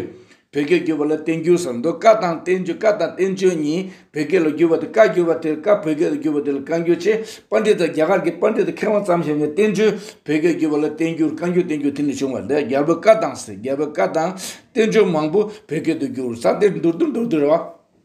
བོད་སྐད་བསྒྱུར་བ་ལ་བསྟན་འགྱུར་ཟེར་འདུག་བཀའ་དང་བསྟན་བཅོས་བཀའ་དང་བསྟན་བཅོས་གཉིས་བོད་སྐད་ལ་བསྒྱུར་བ་དེ་བཀའ་བསྒྱུར་བ་དེར་བཀའ་བོད་སྐད་དུ་བསྒྱུར་བ་དེ་ལ་བཀའ་འགྱུར་ཅེས་པཱ་འདྲི་ད་རྒྱ་གར་གྱི་པཱ་འདྲི་ད་མཁས་དབང་བརྩམས་བྱ་ཡན་གྱི་བསྟན་བཅོས་བོད་སྐད་བསྒྱུར་བ་ལ་བསྟན་འགྱུར་བཀའ་འགྱུར་བསྟན་འགྱུར་དེ་ནས་བྱུང་བ་འདི་རྒྱལ་པོའི་བཀའ་དང་ཟེར་རྒྱལ་པོའི་བཀའ་དང་བསྟན་བཅོས་མང་པོ་བོད་སྐད་དུ་བསྒྱུར་ས་དེར་མདོར་བསྡུས་མདོར་བསྡུས་ར་བ།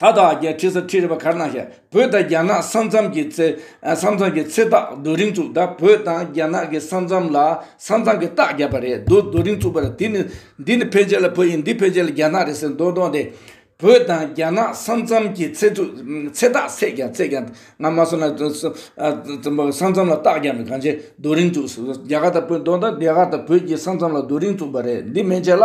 ད་ལྟ་ཨ་རྒྱའི་ཁྲི་ས་ཁྲི་རི་བ་གར་ནང་ཞབས་བོད་དང་རྒྱ་ནག་ས་མཚམས་ཀྱི་ཚེ་ས་མཚམས་ཀྱི་ཚེ་ཐག་རྡོ་རིང་བཙུགས་ད་བོད་དང་རྒྱ་ནག་གི་ས་མཚམས་ལ་ས་མཚམས་ཀྱི་རྟགས་བརྒྱབ་པ་རེད་འདུག་རྡོ་རིང་བཙུགས་པ་རེད་དེ་ནི་འདི་ནི་ཕལ་ཆེར་ལ་བོད་ཡིན་འདི་ཕལ་ཆེར་ལ་རྒྱ་ནག་རེད་ཟེར་མདོག་མདོག་འདི་བོད་དང་རྒྱ་ནག་ས་མཚམས་ཀྱི་ཚེ་ཚུ་ཚེ་རྟགས་ཚེས་ཀྱང་ཚེས་ཀྱང་ང་མ་སོང་ན་ས་མཚམས་ལ་རྟགས་བརྒྱབ་ནས་གང་ཆེ་རྡོ་རིང་བཙུགས་རྒྱ་གར་དང་བོད་མདོག་མདོག་རྒྱ་གར་དང་བོད་ཀྱི་ས་མཚམས་ལ་རྡོ་རིང་བཙུགས་པ་རེད་འདི་མན་ཆད་ལ།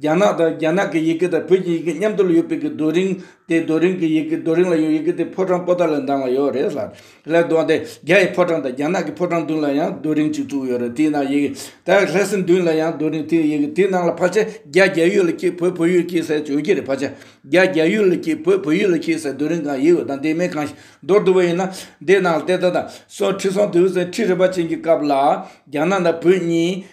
རྒྱ་ནག་དང་རྒྱ་ནག་གི་ཡི་གེ་དང་བོད་ཀྱི་ཡི་གེ་མཉམ་དུ་ཡོད་པའི་གི་རྡོ་རིང། དེ་རྡོ་རིང་གི་ཡི་གེ་རྡོ་རིང་ལ་ཡོད་ཡི་གེ་དེ་ཕོ་བྲང་པོ་ཏཱ་ལ་འདང་ལ་ཡོད་རེད་ལ། ལེགས་འདུག་དེ་རྒྱ་ཡི་ཕོ་བྲང་དང་རྒྱ་ནག་གི་ཕོ་བྲང་མདུན་ལ་ཡང་རྡོ་རིང་གཅིག་བཙུགས་ཡོད་རེད་དེའི་ནང་ཡི་གེ་དེ་ལྷ་སའི་མདུན་ལ་ཡང་རྡོ་རིང་དེའི་ཡི་གེ་དེའི་ནང་ལ་ཕར་ཆད་རྒྱ་རྒྱ་ཡུལ་ལ་སྐྱིད་བོད་བོད་ཡུལ་སྐྱིད་ཟེར་བྱོས་ཀྱི་རེད་ཕར་ཆད་རྒྱ་རྒྱ་ཡུལ་ལ་སྐྱིད་བོད་བོད་ཡུལ་ལ་སྐྱིད་ཟེར་རྡོ་རིང་གང་ཡིན་ཡོད་དང་དེ་མིན་གང་ཞིག་འདོར་ཐུབ་པ་ཡིན་ན་དེའི་ནང་ལ་བལྟས་ད་ལྟ་སོང་ཁྲི་སྲོང་ལྡེའུ་བཙན་ཁྲི་རིན་པ་ཅན་གྱི་སྐབས་ལ་རྒྱ་ནག་དང་བོད་གཉིས་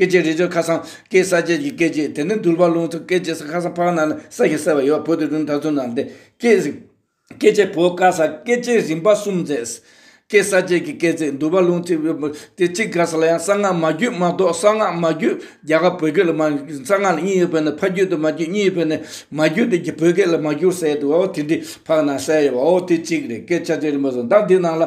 སྐད་ཅིག་རི་ཆུ་ཁ་སང་ཀའི་ས་བཅད་ཀྱི་སྐད་ཅིག་དེ་ནི་དུར་བ་ལུང་ཐུག་སྐད་ཅིག་ས་ཁ་སང་ཕག་ནང་ན་ས་ཞིག་གསལ་བ་ཡོད་བོད་དུ་རུང་ད་ཚུར་ནང་བསྟན་སྐད། སྐད་ཅིག་བོད་བཀའ་ས་སྐད་ཅིག་རིམ་པ་གསུམ་མཛེས། ཀའི་ས་བཅད་ཀྱི་སྐད་ཚིག་དུར་བ་ལུང་ཐུག་བོད་བོད་དེ་གཅིག་ག་ས་ལ་ཡང་གསང་སྔགས་མ་རྒྱུད་མ་གཏོགས་གསང་སྔགས་མ་རྒྱུད་རྒྱ་གར་བོད་སྐད་ལ་མ་གསང་སྔགས་ལ་གཉིས་ཡོད་བོད་ནི་ཕ་རྒྱུད་དུ་མ་རྒྱུད་གཉིས་ཡོད་བོད་ནི་མ་རྒྱུད་དུ་བོད་སྐད་ལ་མ་རྒྱུད་གསལ་དུ་བའོ་དེ་འདྲའི་ཕག་ནང་གསལ་ཡོད་བའོ་དེ་གཅིག་རེད་སྐད་ཆ་བཅད་རིམ་པ་གསུམ་ད་འདི་ནང་ལ།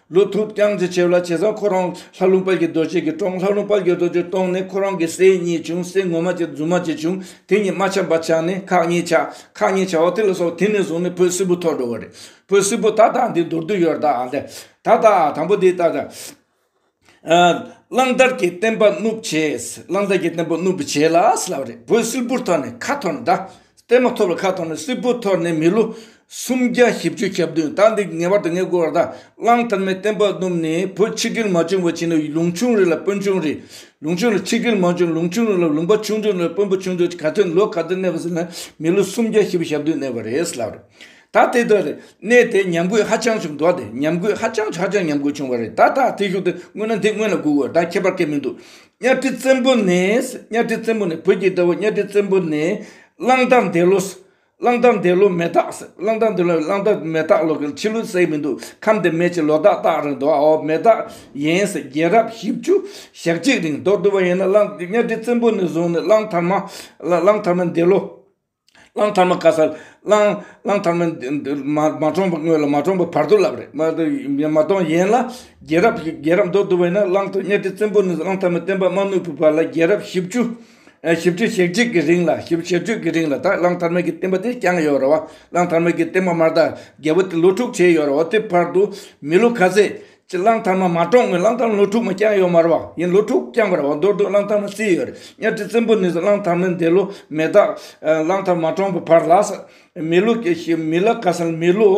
ལུག་ཐུབ་རྐྱང་ཚེ་ཆེ་བ་ལ་བྱས་ཙང་ཁོ་རང་ལྷ་ལུང་དཔལ་གྱི་རྡོ་རྗེ་གིས་བཀྲོངས་ལྷ་ལུང་དཔལ་གྱི་རྡོ་རྗེ་བཀྲོངས་ནས་ཁོ་རང་གི་སྲས་གཉིས་བྱུང་སྲས་ངོ་མ་གཅིག་རྫུན་མ་གཅིག་བྱུང་དེ་གཉིས་རྨ་ཆ་འབའ་ཆགས་ནས་ཁག་གཉིས་ཆགས་ཁག་གཉིས་ཆགས་བ་དེ་ལ་སོགས་དེ་ནས་བཟུང་ནས་བོད་སིལ་བུ་ཐོག་འགྲོ་བ་རེད་བོད་སིལ་བུ་ད་དང་འདི་མདོར་བསྡུས་ཡོད་ད་ཨ་ད་ད་ཨ་དང་པོ་འདི་ད་ད། གླང་དར་གྱི་བསྟན་པ་བསྣུབས་བྱས་གླང་དར་གྱི་བསྟན་པ་བསྣུབས་བྱས་ལ་བསླབས་རེད་བོད་སིལ་བུར་ཐོག་ནས་ཁ་ཐོར་འདྲ། བརྟན་མ་ཐོབ་ལ་ཁ་ཐོར་ནས་སིལ་བུ་འཐོར་ནས་མི་ལོ་སུམ་བརྒྱ་བཞི་བཅུ་གྱ་བདུན་ཟླ་འདི་ངེས་པར་དུ་ངའི་སྐུ་བར་དང་བླངས་དར་མའི་བསྟན་པ་བསྣུབས་ནས་བོད་ཕྱི་རྒྱུད་མ་བྱུང་བར་བྱས་ནས་ལུང་ཆུང་རིགས་ལ་དཔོན་ཆུང་རིགས། ལུང་ཆུང་རིགས་ཕྱི་རྒྱུད་མ་བྱུང་ལུང་ཆུང་རིགས་ལ་ལུང་པ་ཆུང་ཆུང་རིགས་ལ་དཔོན་པོ་ཆུང་ཆུང་ག་ཚོད་ལོ་ག་ཚོད་གནས་པ་ཟིན་ན་མི་ལོ་སུམ་བརྒྱ་བཞི་བཅུ་གྱ་བདུན་གནས་པ་རེད་ལབ་རེད། ད་དེ་ལྟར་རེད་གནས་དེ་ཉམས་རྒུད་ཧ་ཅང་བྱུང་འགྲོ་བ་དེ་ཉམས་རྒུད་ཧ་ཅང་ཧ་ཅང་ཉམས་རྒུད་བྱུང་བ་རེད་ད་ད་དེ་ཞུགས་དེ་སྔོན་ན་འདི་སྔོན་ལ་སྒུག་དགོས་ད་ཁྱད་པར་སྐད་མི་འདུག་གཉའ་ཁྲི་བཙན་པོ་ནི། གཉའ་ཁྲི་བཙན་པོ་ནི་བོད་ཀྱི་དགྲ་བོ་གཉའ་ཁྲི་བཙན་པོ་ནི། གླང་དར་འདས་ལོ། གླང་དར་འདས་ལོ་མེ་སྟག། གླང་དར་འདས་ལོ་གླང་དར་མེ་སྟག་ལོ་གི་ཕྱི་ལོའི་སའི་མི་འདུག་ཁམས་དེ་མེད་ཅེས་ལོ་སྟག་སྟག་རིང་འདུག་ཨའོ་མེ་སྟག་ཡིན། རྒྱལ་རབས་བཞི་བཅུ་ཞག་གཅིག་རིང་འདོགས་བསྡུས་པ་ཡིན་ན་གླང་གཉའ་ཁྲི་བཙན་པོ་ནི་བཟུང་ནས་གླང་དར་མ། གླང་དར་མ་འདས་ལོ། གླང་དར་མ་བཀའ་ས་གླང། གླང་དར་མ་འདིར་མ་མ་འཁྲོངས་པ་དངོས་ལ་མ་འཁྲོངས་པ་བར་དོ་ལབ་རེད་མ་དོ་མ་གཏོང་ཡན་ལ་རྒྱལ་རབས་ཀྱི་རྒྱལ་རབས་མདོར་བསྡུ་བས་ན་གླང་ཐོད་གཉའ་ཁྲི་བཙན་པོ་ནས་གླང་དར་མ་བསྟན་པ་དམའ་ནུབ་ཀྱི་བར་ལ་རྒྱལ་རབས་བཞི་བཅུ། བཞི་བཅུ་ཞེ་གཅིག་གི་རིང་ལ་བཞི་བཅུ་ཞེ་བཅུ་གི་རིང་ལ་ད་གླང་དར་མ་གྱི་བསྟན་པ་དེ་བསྐྱངས་ཡོད་རེད་བ་གླང་དར་མ་གྱི་བསྟན་པ་མར་ད་རྒྱལ་པོ་དེ་ལོ་དྲུག་བྱས་ཡོད་རེད་བ་དེ་བར་དུ་མི་ལོ་ག་ཚད་ཀྱི་གླང་དར་མ་མ་གྲོངས་མོད་གླང་དར་མ་ལོ་དྲུག་མ་བསྐྱངས་ཡོད་མ་རེད་ཡིན་ལོ་དྲུག་བསྐྱངས་པར་བ་མདོར་བསྡུ་གླང་དར་མ་བརྩིས་ཡོད་རེད་གཉའ་ཁྲི་བཙན་པོ་ནས་བཟུང་གླང་དར་མའི་འདས་ལོ་མེ་སྟག་གླང་དར་མ་གྲོངས་པའི་བར་ལ་ས་མི་ལོ་མི་ལ་ཀ་ས་ལ་མི་ལོ་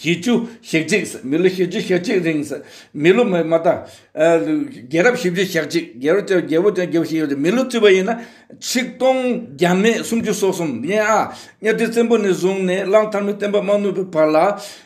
ཞེ་བཅུ་ཞེ་གཅིག་ས་མི་ལོ་ཞེ་བཅུ་ཞེ་གཅིག་རིང་ས་མི་ལོ་མ་ད་རྒྱལ་རབས་བཞི་བཅུ་ཞག་གཅིག་རྒྱལ་རབས་བརྒྱད་པོ་བརྒྱད་པོ་ཞིག་ཡོད་རེད་མི་ལོ་བརྩིས་པ་ཡིན་ན་ཆིག་སྟོང་བརྒྱ་མེད་སུམ་ཅུ་སོ་གསུམ་ཡིན་ཨ་གཉའ་ཁྲི་བཙན་པོ་ནས་བཟུང་ནས་གླང་དར་མའི་བསྟན་པ་མ་བསྣུབས་པའི་བར་ལ།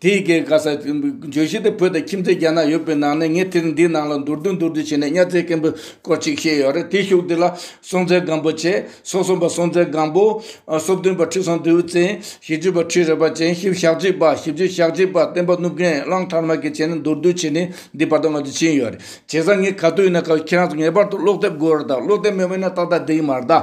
དེ་ཡི་གེ་ག་ས་བརྗོད་གཞི་དེ་བོད་དང་ཁྱིམ་མཚེས་རྒྱ་ནག་ཡོད་པའི་ནང་ནས་ངས་དེར་འདིའི་ནང་ལ་མདོར་བསྡུས་མདོར་བསྡུས་བྱས་ནས་གཉའ་རྩེ་སྐམ་པོའི་སྐོར་ཅིག་བཤད་ཡོད་རེད་དེའི་ཤུགས་འདི་ལ་སྲོང་བཙན་སྒམ་པོ་ཆེ་སྲོག་གསུམ་པ་སྲོང་བཙན་སྒམ་པོ། སྲོག་བདུན་པ་ཁྲི་སྲོང་ལྡེའུ་བཙན། བཞི་བཅུ་པ་ཁྲི་རལ་པ་ཅན་བཞི་ཞག་གཅིག་པ་བཞི་བཅུ་ཞག་གཅིག་པ་བསྟན་པ་གནུབས་རྒན་གླང་དར་མ་གིས་བྱས་ནས་མདོར་བསྡུས་བྱས་ནས་འདིའི་བར་དོ་ང་ཚོས་ཕྱིན་ཡོད་རེད་བྱས་ཙང་ངས་ག་དུས་ཡིན་ན་ཁྱེད་རང་ཚོ་ངེས་པར་དུ་ཀློག་དེབ་དགོས་རེད་ད་ཀློག་དེབ་མེད་པ་ཡིན་ན་ཏག་ཏག་འདི་ཡིན་མ་རེད་ད།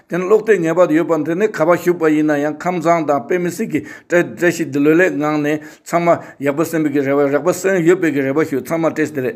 དེ་ནི་ལོག་ལྟའི་ངེས་པ་ཡོད་པ་འདི་ནི་ག་པར་བཞུགས་པ་ཡིན་ན་ཡང་ཁམས་བཟང་དང་དཔེ་མི་སྲིད་ཀྱི་བཀྲ་ཤིས་འདི་ལོས་ལེགས་ངང་ནས་ཚང་མ་ཡག་པོ་སེམས་པའི་གི་རེ་བ་རེག་པ་སེམས་ཡོད་པའི་གི་རེ་བ་ཞུ་ཚང་མ་བཀྲ་ཤིས་བདེ་ལེགས།